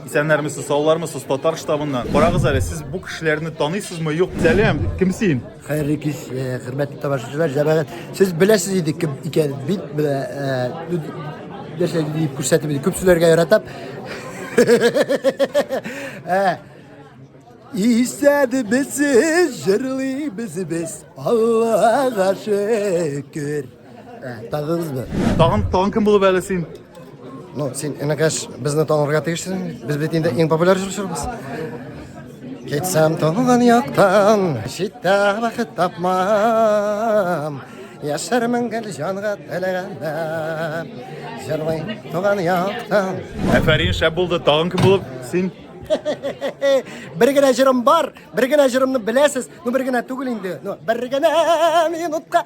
Исәннәрмесез, саулармысыз, татар штабыннан. Карагыз әле, сез бу кешеләрне таныйсызмы, юк? Сәлам, кем син? Хәерле кич, э, хөрмәтле тамашачылар, җәмәгать. Сез беләсез иде кем икән бит, менә э, нәрсә дип күрсәтеп иде. Күп сүләргә яратам. Э, Исәнмесез, җырлыйбыз без, Аллага шөкер. Тагыгыз бер. Тагын тагын кем булып әле син? Ну, син энекәш безне танырга тиешсең. Без бит инде иң популяр җырчыбыз. Китсәм туган яктан, читтә бәхет тапмам. Яшәрмен гел җанга теләгәндә. Җырлыйм туган яктан. Әфәрин, шәп булды. Тагын кем булып син? бер генә җырым бар, бер генә җырымны беләсез, ну бер генә түгел инде, ну бер генә минутка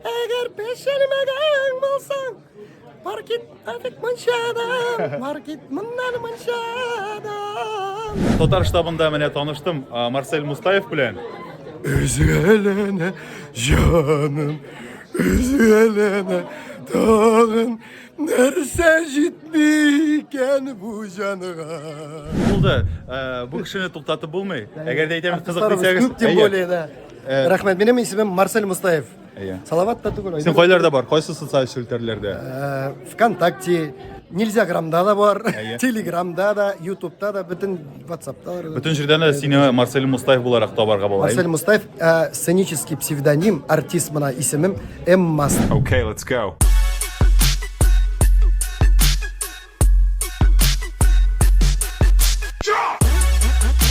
Әгәр пешермәгән булсаң, бар кит әлек мончадан, бар кит моннан мончадан. Татар штабында менә таныштым Марсель Мустаев белән. Өзгәләнә җаным, өзгәләнә тагын нәрсә җитми икән бу җанга. Булды. Бу кешене туктатып булмый. Әгәр дә әйтәм кызык дисәгез, күп тем более, да. Рәхмәт, минем исемем Марсель Мустаев. Әйе. Салават та түгел. Син кайларда бар? Кайсы социаль челтәрләрдә? Э, Вконтакте, Нельзя грамда да бар, Әйе. Телеграмда да, Ютубта да, бөтен Ватсапта бар. Бөтен җирдән дә сине Марсель Мустаев буларак табарга була. Марсель Мустаев, э, сценический псевдоним, артист мына исемем М. Мас. Okay, let's go.